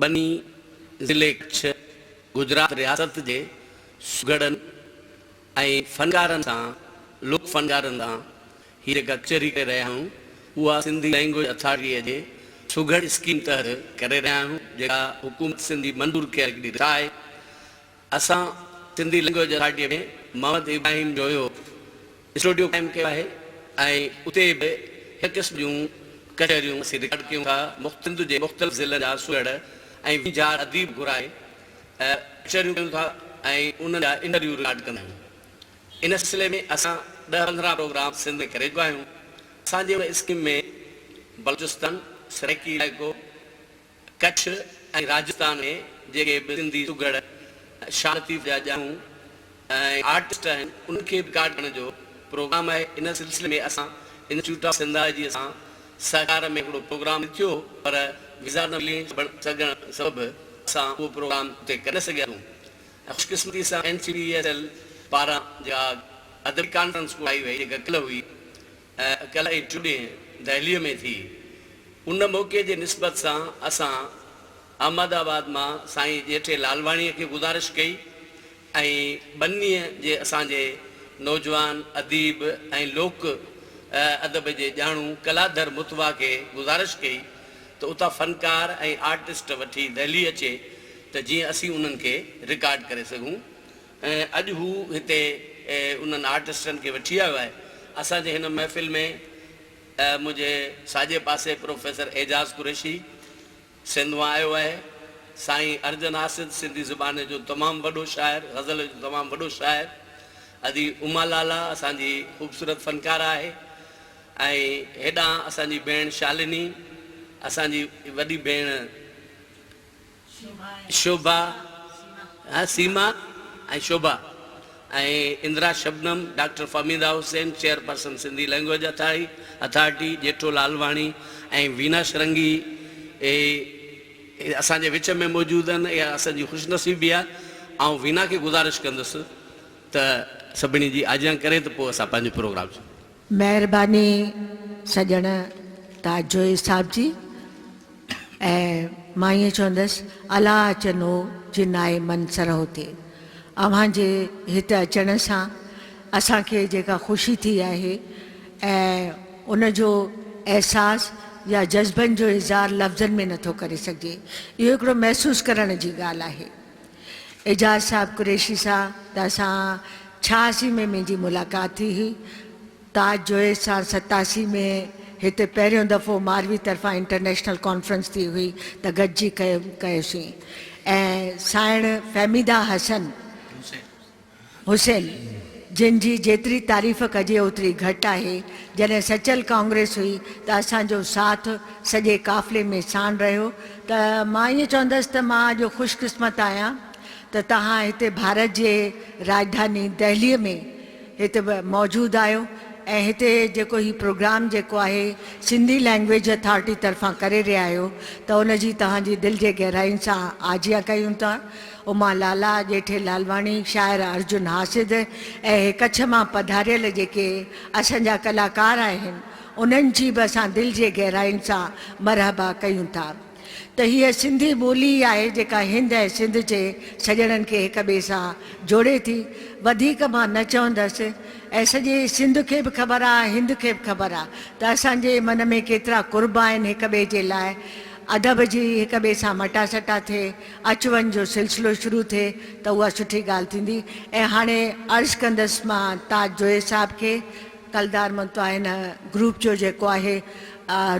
ٻني، ضلعي ڪڇ، گجرات رياست جي سگهڙن ۽ فنڪارن سان، لوڪ فنڪارن سان هي جيڪا ڪچهري ڪري رهيا آهيون اها سنڌي لئنگويج اٿارٽيء جي سگهڙ اسڪيم تحت ڪري رهيا آهيون جيڪا حڪومت سنڌ جي منظور ڪيل هڪڙي رٿا آهي. اسان سنڌي لئنگويج اٿارٽيء ۾ محمد ابراهيم جو اهو اسٽوڊيو قائم ڪيو آهي ۽ اتي به هن قسم جون ڪچهريون اسين رڪارڊ ڪيون ٿا، سنڌ جي مختلف ضلعن جا سهڙ ۽ ويجهار اديب گهرائي ڪچهريون ڪيون ٿا ۽ انهن جا انٽرويو رڪارڊ ڪندا آهيون. ان سلسلي ۾ اسان ڏهه پندرهن پروگرام سنڌ ۾ ڪري چڪا آهيون. اسان جي ان اسڪيم ۾ بلوچستان، سرائيڪي علائقو، ڪڇ ۽ راجستان ۾ جيڪي به سنڌي سگهڙ، شاهه لطيف جا ڄاڻو ۽ آرٽسٽ آهن، انهن کي به رڪارڊ ڪرڻ جو پروگرام آهي. ان سلسلي ۾ اسان انسٽيٽيوٽ آف سنڌالاجيء سان سهڪار ۾ هڪڙو پروگرام رٿيو هو پر ويزا نه ملي سگهڻ سبب اسان اهو پروگرام اتي ڪري نه سگهياسون ۽ خوش قسمتي سان N C P S L پاران جيڪا ادبي ڪانفرنس ڪرائي وئي جيڪا ڪلهه هئي اڪيلائي ٽوڏينهن دهليء ۾ ٿي. ان موقعي جي نسبت سان اسان احمد آباد مان سائين ڄيٺي لالواڻيء کي گذارش ڪئي ۽ ٻنيء جي اسان جي نوجوان اديب ۽ لوڪ ادب جي ڄاڻو ڪلادر متوا کي گذارش ڪئي ته اتان فنڪار ۽ آرٽسٽ وٺي دهلي اچي ته جيئن اسين انهن کي رڪارڊ ڪري سگهون. ۽ اڄ هو هتي انهن آرٽسٽن کي وٺي آيو آهي. اسان جي هن محفل ۾ منهنجي ساڄي پاسي پروفيسر اعجاز قريشي سنڌ مان آيو آهي. سائين ارجن آصد سنڌي زبان جو تمام وڏو شاعر، غزل جو تمام وڏو شاعر. ادي اما لالا اسان جي خوبصورت فنڪاره آهي ۽ هيڏانهن اسان جي ڀيڻ شالني، اسان جي وڏي ڀيڻ. Shobha ۽ Seema ۽ Shobha ۽ Indira Shabnam, doctor Fahmida Hussain, chairperson Sindhi Language Authority, Jetho Lalwani ۽ Veena Shringi اسان جي وچ ۾ موجود آهن اها اسان جي خوش نصيبي آهي آئون وينا کي گذارش ڪندس ته سڀني جي آجيان ڪري ته پوء اسان پنهنجو پروگرام شروع ڪريون. مهرباني سڄڻ تاجزوئي صاحب جي ۽ مان ائين چوندس الا اچن هو جن آء من سر هوتي اوهان جي هت اچڻ سان اسان کي جيڪا خوشي ٿي آهي ۽ ان جو احساس يا جذبن جو اظهار لفظن ۾ نٿو ڪري سگهجي اهو هڪڙو محسوس ڪرڻ جي ڳالهه آهي. اعجاز صاحب قريشي سا ته اسان ڇهاسي ۾ منهنجي ملاقات ٿي هئي تاج جويس سان ستاسي ۾ هتي پهريون دفعو ماروي طرفان انٽرنيشنل ڪانفرنس ٿي هئي ته گڏجي ڪيم ڪيوسين ۽ سائڻ فهميده حسن حسين، جن جي جيتري تعريف ڪجي اوتري گهٽ آهي، جڏهن سچل ڪانگريس هئي ته اسان جو ساٿ سڄي قافلي ۾ ساڻ رهيو ته مان ائين چوندس ته مان اڄ خوش قسمت آهيان ته توهان هتي ڀارت جي راڄڌاني دهلي ۾ هتي موجود آهيو ۽ هتي جيڪو هي پروگرام جيڪو آهي سنڌي لئنگويج اٿارٽي طرفان ڪري رهيا آهيو ته ان جي توهان جي دل جي گهرائين سان آجيان ڪيون ٿا. اما لالا، ڄيٺي لالواڻي، شاعره ارجن حاسد ۽ هي ڪڇ مان پڌاريل جيڪي اسان جا ڪلاڪار آهن، انهن جي به اسان دل جي گهراين سان مرحبا ڪيون ٿا ته هيء سنڌي ٻولي ئي آهي جيڪا هند ۽ سنڌ جي سڄڻن کي هڪ ٻئي سان جوڙي ٿي. وڌيڪ مان نه چوندس ۽ سڄي سنڌ کي به خبر آ ۽ هند کي به خبر آ ته اسان جي من ۾ ڪيترا قرب آهن هڪ ٻئي جي لاء ادب جي هڪ ٻئي سان مٽاسٽا ٿئي. اچ وڃ جو سلسلو شروع ٿئي ته اها سٺي ڳالهه ٿيندي ۽ هاڻي عرض ڪندس مان تاج جويي صاحب کي ڪلدار منتو هن گروپ جو جيڪو آهي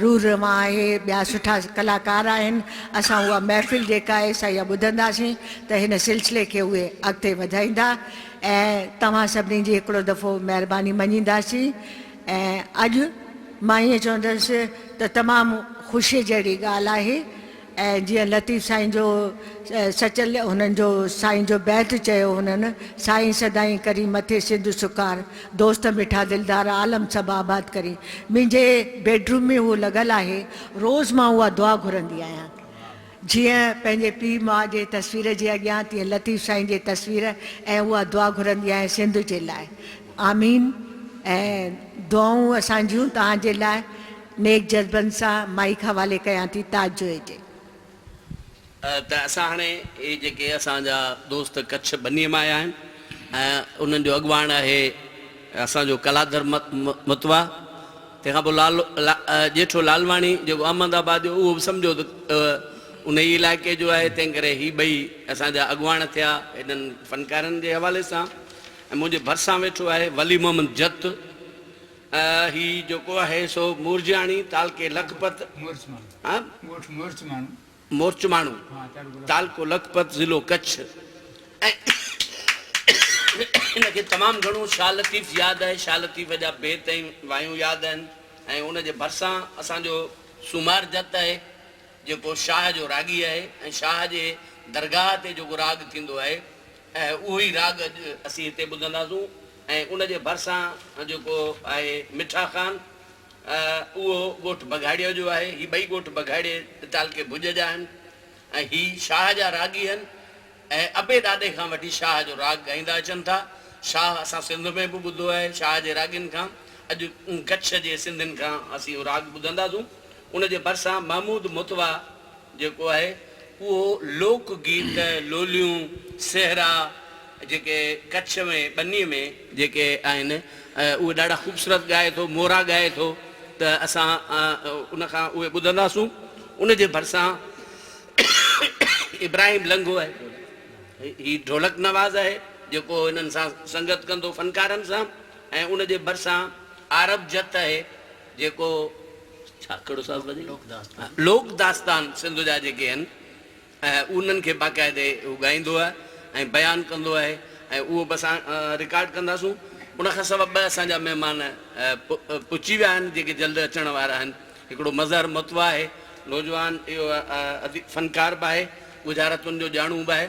روح روان آهي ٻيا سٺا ڪلاڪار آهن اسان اها محفل جيڪا آهي سا اها ٻڌنداسين ته هن سلسلي کي اهي اڳتي وڌائيندا ۽ توهان سڀني جي هڪڙو دفعو مهرباني مڃينداسين ۽ اڄ مان ائين چوندس ته تمام خوشي جهڙي ڳالهه آهي ۽ جيئن لطيف سائين جو سچل هنن جو سائين جو بيت چيو هنن، سائين سدائين ڪرين مٿي سنڌ سڪار، دوست مٺا دلدار عالم سڀ آباد ڪرين. منهنجي بيڊروم ۾ هو لڳل آهي، روز مان اها دعا گهرندي آهيان. جيئن پنهنجي پيء ماء جي تصوير جي اڳيان تيئن لطيف سائين جي تصوير ۽ اها دعا گهرندي آهيان سنڌ جي لاء. آمين ۽ دعائون اسان جون توهان جي لاء. نيڪ جذبن سان مائيڪ حوالي ڪيان ٿي تاج جويي جي. ته اسان هاڻي هي جيڪي اسان جا دوست ڪڇ ٻنيء مان آيا آهن ۽ انهن جو اڳواڻ آهي اسان جو ڪلادر متوا تنهن کان پوء لال ڄيٺو لالواڻي جيڪو احمد آباد جو اهو به سمجهو ته انهي ئي علائقي جو آهي تنهن ڪري هي ٻئي اسان جا اڳواڻ ٿيا هنن فنڪارن جي حوالي سان ۽ منهنجي ڀرسان ويٺو آهي ولي محمد جت هي جيڪو آهي سو مورجياڻي تعلقي لکپت مورچماڻو تعلقو لکپت ضلعو ڪڇ ۽ هن کي تمام گهڻو شاهه لطيف ياد آهي شاهه لطيف جا بيت ۽ وايون ياد آهن ۽ ان جي ڀرسان اسان جو سومار جت آهي جيڪو شاهه جو راڳي آهي ۽ شاهه جي درگاهه تي جيڪو راڳ ٿيندو آهي اهو ئي راڳ اڄ اسين هتي ٻڌنداسون ۽ ان جي ڀرسان جيڪو آهي مٺا خان اهو ڳوٺ بگهاڙيء جو آهي. هي ٻئي ڳوٺ بگهاڙي تعلقي ڀڄ جا آهن ۽ هي شاهه جا راڳي آهن ۽ ابي ڏاڏي کان وٺي شاهه جو راڳ ڳائيندا اچن ٿا. شاهه اسان سنڌ ۾ به ٻڌو آهي شاهه جي راڳين کان اڄ ڪڇ جي سنڌين کان اسين اهو راڳ ٻڌنداسون. ان جي ڀرسان محمود موتوا جيڪو آهي اهو لوڪ گيت، لوليون، سهرا جيڪي ڪڇ ۾ ٻني ۾ جيڪي آهن اهي ڏاڍا خوبصورت ڳائي ٿو، مورا ڳائي ٿو ته اسان ان کان اهي ٻڌنداسون ان جي ڀرسان ابراهيم لنگهو آهي هي ڍولڪ نواز آهي جيڪو هنن سان سنگت ڪندو فنڪارن سان ۽ ان جي ڀرسان عارب جت آهي جيڪو ڇا ڪھڙو صاحب وڃي لوڪ داستان سنڌ جا جيڪي آھن انھن کي باقاعدي ھو ڳائيندو آھي ۽ بيان ڪندو آھي ۽ اھو به اسان رڪارڊ ڪنداسون ان کان سوا ٻه اسان جا مھمان پھچي ويا آھن جيڪي جلد اچڻ وارا آھن ھڪڙو مظھر متوا آھي نوجوان اھو فنڪار به آھي ڳجھاراتن جو ڄاڻو به آھي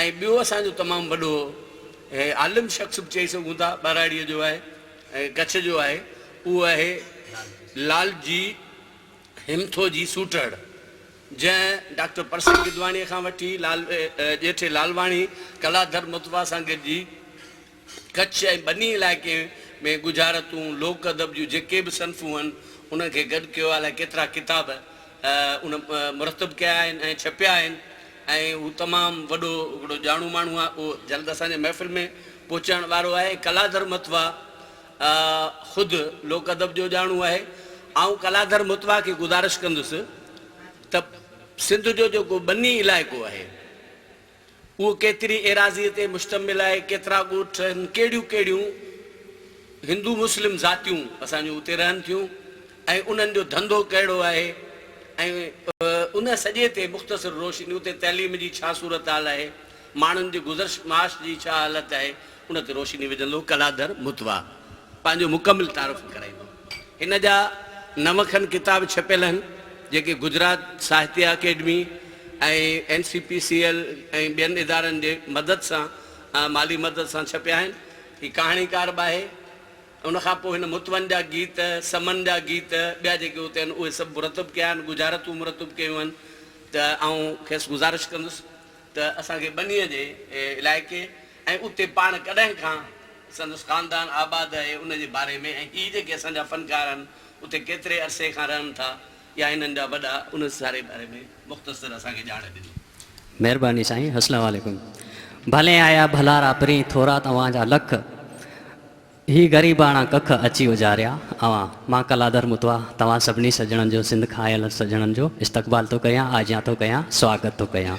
۽ ٻيو اسان جو تمام وڏو عالم شخص به چئي سگھون ٿا ٻھراڙي جو آھي ۽ ڪڇ جو آهي اهو آهي لال جي همٿو جي سوٽهڙ جنهن ڊاڪٽر پرسن گدواڻيء کان وٺي ڄيٺي لالواڻي ڪلادر مطوع سان گڏجي ڪڇ ۽ ٻني علائقي ۾ ڳجهارتون لوڪ ادب جون جيڪي به صنفون هن انهن کي گڏ ڪيو آهي الائي ڪيترا ڪتاب ان مرتب ڪيا آهن ۽ ڇپيا آهن ۽ هو تمام وڏو هڪڙو ڄاڻو ماڻهو آهي اهو جلد اسان جي محفل ۾ پهچڻ وارو آهي ڪلادر متوا خود لوڪ ادب جو ڄاڻو آهي آئون ڪلادر متوا کي گذارش ڪندس ته سنڌ جو جيڪو ٻني علائقو آهي اهو ڪيتري ايراضي تي مشتمل آهي ڪيترا ڳوٺ آهن ڪهڙيون ڪهڙيون هندو مسلم ذاتيون اسان جون اتي رهن ٿيون ۽ انهن جو ڌنڌو ڪهڙو آهي ۽ ان سڄي تي مختصر روشني اتي تعليم جي ڇا صورتحال آهي، ماڻهن جي گذرش معاش جي ڇا حالت آهي ان تي روشني وجهندو ڪلادر متوا پنهنجو مڪمل تعارف ڪرائيندو. هن جا نو کن ڪتاب ڇپيل آهن جيڪي Gujarat Sahitya Academy ۽ N C P C L ۽ ٻين ادارن جي مدد سان مالي مدد سان ڇپيا آهن هي ڪهاڻيڪار به آهي. ان کان پوء هن متون جا گيت، سمن جا گيت، ٻيا جيڪي اتي آهن اهي سڀ مرتب ڪيا آهن، ڳجهارتون مرتب ڪيون آهن ته آئون کيس گذارش ڪندس ته اسان کي ٻنيء جي علائقي ۽ اتي پاڻ ڪڏهن کان سندس خاندان آباد آهي ان جي باري ۾ ۽ هي جيڪي اسان جا فنڪار آهن اتي ڪيتري عرصي کان رهن ٿا يا هنن جا وڏا ان سياري باري ۾ مختصر اسان کي ڄاڻ ڏني. مهرباني سائين اسلام عليڪم ڀلين آيا ڀلا را پرين ٿورا توهان جا لک هي غريباڻا ڪک اچي اجاريا اوهان مان ڪلادر متوا توهان سڀني سڄڻن جو سنڌ کان آيل سڄڻن جو استقبال ٿو ڪريان آجيان ٿو ڪريان سواگت ٿو ڪريان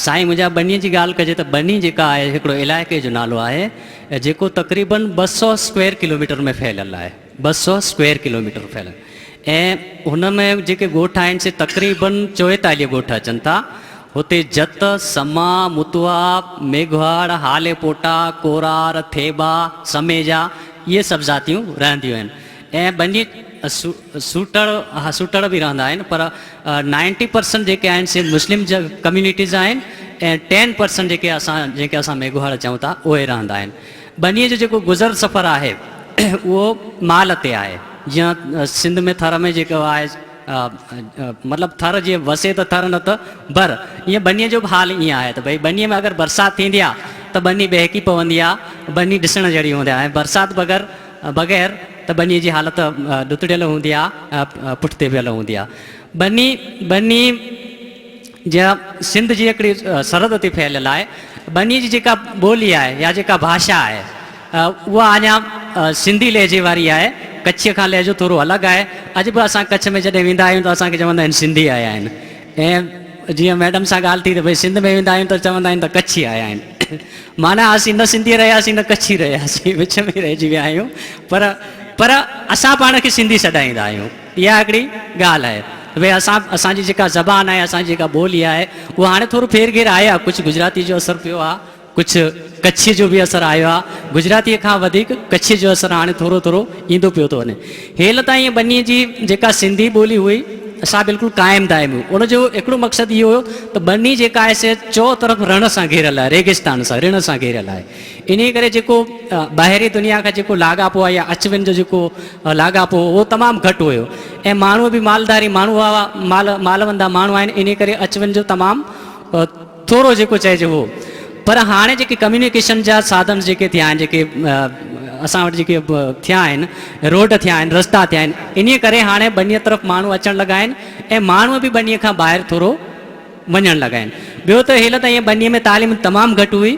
سائين منهنجا ٻني جي ڳالهه ڪجي ته ٻني جيڪا آهي هڪڙو علائقي جو نالو آهي جيڪو تقريبن ٻه سؤ اسڪوير ڪلوميٽر ۾ ڦهليل آهي. ٻه سؤ اسڪوير ڪلوميٽر ڦهليل ۽ هن ۾ جيڪي ڳوٺ آهن سي تقريبن چويتاليهه ڳوٺ اچن ٿا. هتي جت، سما، متوها، ميگهواڙ، هالي پوٽا، ڪورار، ٿيٻا، سميجا اهي سڀ ذاتيون رهنديون آهن ۽ ٻني سوٽڙ ها سوٽڙ به رهندا آهن پر نائنٽي پرسنٽ جيڪي آهن سي مسلم ڪميونٽيز آهن ۽ ٽين پرسنٽ جيڪي اسان جنهن کي اسان ميگهواڙ چئون ٿا اهي رهندا آهن. ٻنيء جو جيڪو گذر سفر آهي اهو مال تي آهي جيئن سنڌ ۾ ٿر ۾ جيڪو آهي مطلب ٿر جيئن وسي ته ٿر نه ته ڀر ايئن ٻنيء جو به حال ايئن آهي ته ڀئي ٻنيء ۾ اگر برسات ٿيندي آهي ته ٻني ٻهڪي پوندي آهي ٻني ڏسڻ جهڙي هوندي آهي ۽ برسات بغير بغير ته ٻنيء جي حالت ڏتڙيل هوندي آهي ۽ پٺتي ويل هوندي آهي ٻني ٻني جيئن سنڌ جي هڪڙي سرحد تي ڦهليل آهي ٻني جي جيڪا ٻولي آهي يا جيڪا ڀاشا آهي اها اڃا سنڌي لهجي واري آهي ڪڇيء کان لهجو ٿورو الڳ آهي اڄ به اسان ڪڇ ۾ جڏهن ويندا آهيون ته اسان کي چوندا آهن سنڌي آيا آهن ۽ جيئن ميڊم سان ڳالهه ٿي ته ڀئي سنڌ ۾ ويندا آهيون ته چوندا آهن ته ڪڇي آيا آهن معنيٰ اسين نه سنڌي رهياسين نه ڪڇي رهياسين وچ ۾ رهجي ويا آهيون پر پر اسان پاڻ کي سنڌي سڏائيندا آهيون اها هڪڙي ڳالهه آهي وي اسان اسان جي جيڪا زبان آهي اسان جي جيڪا ٻولي آهي اها هاڻي ٿورو ڦير گهير آهي آ ڪجهه گجراتي جو اثر پيو آ ڪجهه ڪڇي جو به اثر آيو آ گجراتي کان وڌيڪ ڪڇي جو اثر هاڻي ٿورو ٿورو ايندو پيو ٿو وڃي هيل تائين ٻني جي جيڪا سنڌي ٻولي هئي سا بلڪل قائم دائم هئي ان جو هڪڙو مقصد اهو هيو ته ٻني جيڪا آهي سي چو طرف رڻ سان گهيريل آهي ريگستان سان رڻ سان گهيريل آهي انهيء ڪري جيڪو ٻاهرين دنيا کان جيڪو لاڳاپو آهي يا اچ وڃ جو جيڪو لاڳاپو هو اهو تمام گهٽ هيو ۽ ماڻهو به مالداري ماڻهو هئا مال مالوندا ماڻهو آهن انهيء ڪري اچ وڃ جو تمام ٿورو جيڪو چئجي هو پر هاڻي جيڪي ڪميونيڪيشن جا ساڌن جيڪي ٿيا آهن جيڪي اسان وٽ جيڪي ٿيا آهن روڊ ٿيا آهن رستا ٿيا آهن انهيء ڪري هاڻي ٻنيء طرف ماڻهو اچڻ لڳا آهن ۽ ماڻهو به ٻنيء کان ٻاهر ٿورو وڃڻ لڳا آهن. ٻيو ته هيل تائين ٻنيء ۾ تعليم تمام گهٽ هئي.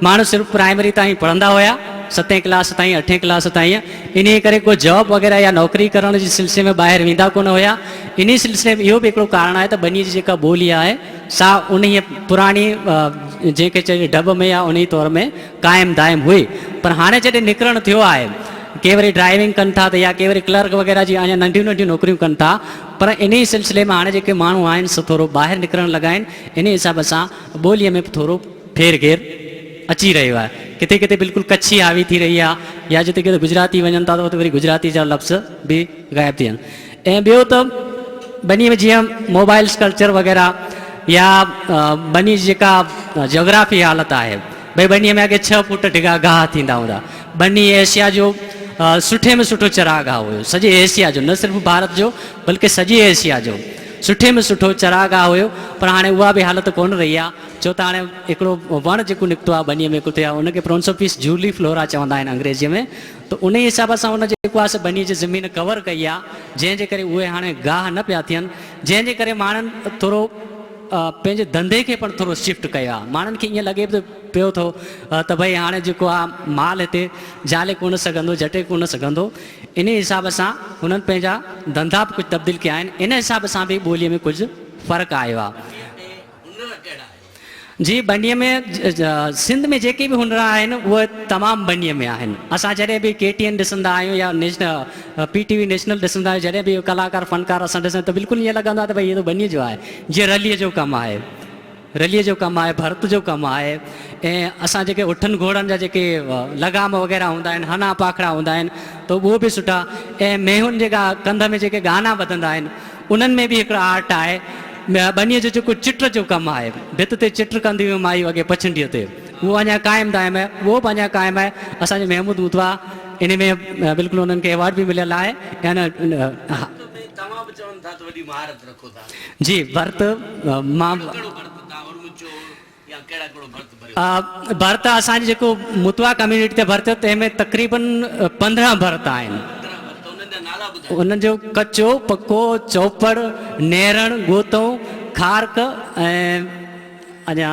ماڻهو صرف پرائمري تائين پڙهندا هيا، ستين ڪلاس تائين، اٺين ڪلاس تائين. انهيء ڪري ڪو جاب وغيره يا نوڪري ڪرڻ جي سلسلي ۾ ٻاهر ويندا ڪونه هيا. انهيء سلسلي ۾ اهو به هڪڙو ڪارڻ آهي ته ٻنيء جي جيڪا ٻولي آهي سا انهيء پراڻي جنهن کي چئجي ڍٻ ۾ يا انهيء دور ۾ قائم دائم هئي. پر هاڻي جڏهن نڪرڻ ٿيو آهي، ڪي وري ڊرائيونگ ڪن ٿا ته يا ڪي وري ڪلرڪ وغيره جي اڃا ننڍيون ننڍيون نوڪريون ڪن ٿا. پر انهيء سلسلي ۾ هاڻي جيڪي ماڻهو آهن سو ٿورو ٻاهر نڪرڻ لڳا آهن، انهيء حساب سان ٻوليء ۾ به ٿورو ڦير گهير اچي رهيو آهي. ڪٿي ڪٿي بلڪل ڪڇي حاوي ٿي رهي آهي يا جتي ڪٿي گجراتي وڃن ٿا ته اتي وري گجراتي جا لفظ به غائب ٿي وڃن ۽ ٻيو ته ٻنيء ۾ جيئن موبائلز ڪلچر وغيره يا ٻنيء جي جيڪا جاگرافي حالت آهي، ڀئي ٻنيء ۾ اڳي ڇهه فوٽ ڊگها گاهه ٿيندا هوندا. ٻني ايشيا جو سٺي ۾ سٺو چراگاهه هيو. سڄي ايشيا جو نه صرف ڀارت جو بلڪه سڄي ايشيا جو سٺي ۾ سٺو چراگاهه هيو پر هاڻي اها به حالت ڪونه رهي آهي ڇو ته هاڻي هڪڙو وڻ جيڪو نڪتو آهي ٻنيء ۾ ڪٿي ان کي پرونسوفيس جولي فلورا چوندا آهن انگريزيء ۾ ته انهي حساب سان ان جيڪو آهي سو ٻنيء جي زمين ڪور ڪئي آهي جنهن جي ڪري اهي هاڻي گاهه نه پيا ٿين جنهن جي ڪري ماڻهن ٿورو پنهنجي ڌنڌي کي پڻ ٿورو شفٽ ڪيو آهي ماڻهن کي ائين لڳي پيو ٿو ته ڀئي هاڻي جيڪو آهي مال هتي جهلي ڪونه سگهندو جهٽي ڪونه سگهندو انهي حساب سان هنن پنهنجا ڌنڌا به ڪجهه تبديل ڪيا آهن ان حساب سان به ٻولي ۾ ڪجهه فرق آيو آهي. جي ٻني ۾ سنڌ ۾ جيڪي به هنر آهن اهي تمام ٻني ۾ آهن اسان جڏهن به ڪي ٽي اين ڏسندا آهيون يا پي ٽي وي نيشنل ڏسندا آهيون جڏهن به اهي ڪلاڪار فنڪار اسان ڏسندا آهيون ته بلڪل ائين لڳندو آهي ته ڀئي هي ته ٻني جو آهي جي رليء جو ڪم آهي، رليء جو ڪم آهي، ڀرت جو ڪم آهي ۽ اسان جيڪي اٺن گهوڙن جا جيڪي لغام وغيره هوندا آهن، هنا پاکڙا هوندا آهن ته اهو به سٺا ۽ مينهن جيڪا ڪنڌ ۾ جيڪي ڳانا ٻڌندا آهن انهن ۾ به هڪڙو آرٽ آهي، ٻنيء جو جيڪو چٽ جو ڪم آهي، ڀت تي چٽ ڪنديون هيون مايون اڳي پڇنڊيء تي، اهو اڃا قائم دائم آهي، اهو به اڃا قائم آهي، اسان جي محمود متوا انهي ۾ بلڪل انهن کي ايوارڊ به مليل آهي ۽ ان ۾ توهان به چون ٿا ته وڏي مهارت رکو ٿا. جي ڀرت مان ڀرت اسان جي جيڪو متوا ڪميونٽي تي ڀرت تنهن ۾ تقريبن پندرهن ڀرت آهن انهن جو ڪچو پڪو چوپڙ نيرڻ ڳوتو کارڪ ۽ اڃا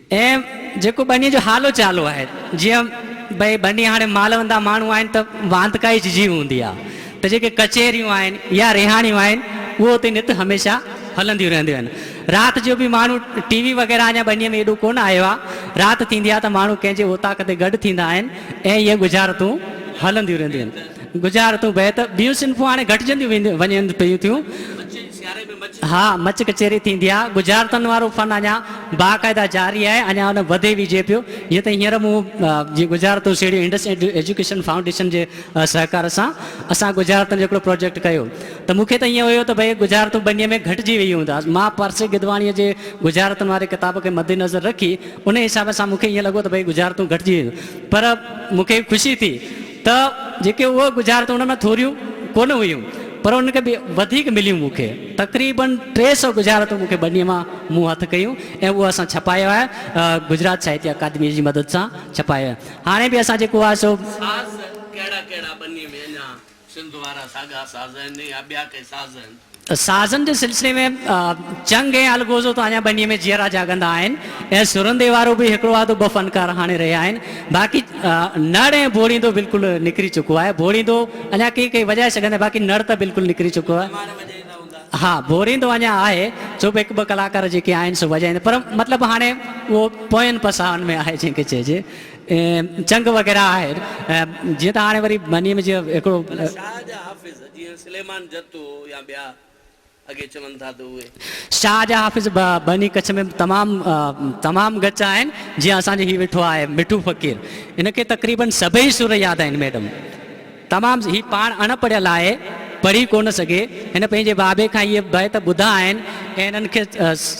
۽ جيڪو ٻنيء جو حالو چالو آهي، جيئن ڀئي ٻني هاڻي مال وندا ماڻهو آهن ته واندڪائي ججهي هوندي آهي ته جيڪي ڪچهريون آهن يا رهاڻيون آهن اهو اتي نت هميشه هلنديون رهنديون آهن. رات جو به ماڻهو ٽي وي وغيره اڃا ٻنيء ۾ ايڏو ڪونه آيو آهي. رات ٿيندي آهي ته ماڻهو ڪنهن جي اوطاق تي گڏ ٿيندا آهن ۽ اهي ڳجهارتون هلنديون رهنديون آهن. ڳجهارتون بهت ٻيون صنفون هاڻي گهٽجنديون وڃن پيون ٿيون. ها مچ ڪچهري ٿيندي آ ڳجهارتن وارو فن اڃا باقاعده جاري آهي اڃا ان وڌي ويجهي پيو جيئن ته هينئر مون جي ڳجهارتون سيڙهيون انڊس ايجوڪيشن فائونڊيشن جي سهڪار سان اسان ڳجهارتن جو هڪڙو پروجيڪٽ ڪيو ته مون کي ته ائين هيو ته ڀئي ڳجهارتون ٻنيء ۾ گهٽجي ويئي هوندا مان پرسي گدواڻيء جي ڳجهارتن واري ڪتاب کي مد نظر رکي انهي حساب سان مون کي ائين لڳو ته ڀئي ڳجهارتون گهٽجي ويون پر مون کي خوشي ٿي ته جيڪي اهي ڳجهارتون ان ۾ ٿوريون ڪونه هيون پر ان کي وڌيڪ مليون مون کي تقريباً ٽي سئو ڳجهارتون مون کي ٻني مان مون هٿ ڪيون ۽ اهو اسان ڇپايو آهي گجرات ساهتيه اڪادميء جي مدد سان ڇپايو آهي هاڻي به اسان جيڪو آهي سو ساز ڪهڙا ڪهڙا ٻني ۾ اڃا سنڌ وارا ساڳا ساز آهن يا ٻيا ڪي ساز آهن؟ سازن جي سلسلي ۾ چنگ ۽ الغوزو تان اڃا ٻنيء ۾ جيئرا جاڳندا آهن ۽ سرن تي وارو به هڪڙو آڌو ٻه فنڪار هاڻي رهيا آهن، باقي نڙ ۽ ڀوڙيندو بلڪل نڪري چڪو آهي. ڀوڙيندو اڃا ڪيئي ڪيئي وڄائي سگهندا باقي نڙ ته بلڪل نڪري چڪو آهي. ها ڀوڙيندو اڃا آهي ڇو به هڪ ٻه ڪلاڪار جيڪي آهن سو وڄائيندا پر مطلب هاڻي اهو پوين پساهن ۾ آهي جنهن کي چئجي چنگ وغيره آهي جيئن ته هاڻي وري ٻنيء ۾ جيئن هڪڙو جيئن سليمان جتو يا ٻيا اڳي چون ٿا ته اهي. شاهه جا حافظ به ٻني ڪڇ ۾ تمام تمام ڳچ آهن جيئن اسان جو هي ويٺو آهي مٺو فقير هن کي تقريبن سڀئي سر ياد آهن ميڊم تمام هي پاڻ اڻ پڙهيل آهي پڙهي ڪونه سگهي هن پنهنجي بابي کان اهي بيت ٻڌا آهن ۽ هنن کي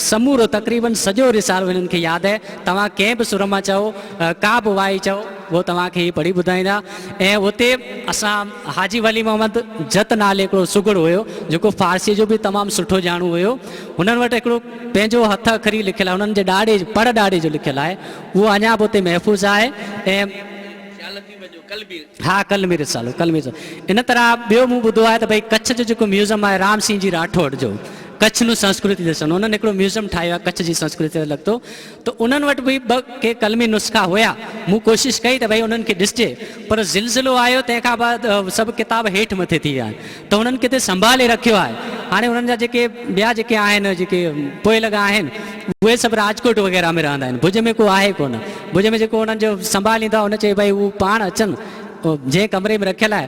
سمورو تقريبن سڄو رسالو هنن کي ياد آهي توهان ڪنهن به سر مان چئو ڪا به وائي چئو اهو توهان کي هي پڙهي ٻڌائيندا ۽ اتي اسان حاجي ولي محمد جت نالي هڪڙو سگهڙ هيو جيڪو فارسيء جو به تمام سٺو ڄاڻو هيو هنن وٽ هڪڙو پنهنجو هٿ اکري لکيل آهي هنن جي ڏاڙهي پڙ ڏاڙهي جو لکيل آهي اهو اڃا به اتي محفوظ آهي ۽ ها قلمي رسالو قلمي رسالو ان طرح ٻيو مون ٻڌو آهي ته ڀئي ڪڇ جو جيڪو ميوزم آهي رام سين جي راٺوڙ جو ڪڇ نون سنسڪرتي ڏسڻ انهن هڪڙو ميوزم ٺاهيو آهي ڪڇ جي سنسڪرتي سان لڳتو ته انهن وٽ به ٻه ڪي قلمي نسخا هيا. مون ڪوشش ڪئي ته ڀئي انهن کي ڏسجي، پر زلزلو آيو، تنهن کان بعد سڀ ڪتاب هيٺ مٿي ٿي ويا آهن، ته انهن ڪٿي سنڀالي رکيو آهي. هاڻي انهن جا جيڪي ٻيا جيڪي آهن، جيڪي پوء لڳا آهن، اهي سڀ راجڪوٽ وغيره ۾ رهندا آهن، ڀڄ ۾ ڪو آهي ڪونه. ڀڄ ۾ جيڪو انهن جو سنڀاليندو آهي، ان چئي ڀئي هو پاڻ اچن، جنهن ڪمري ۾ رکيل آهي،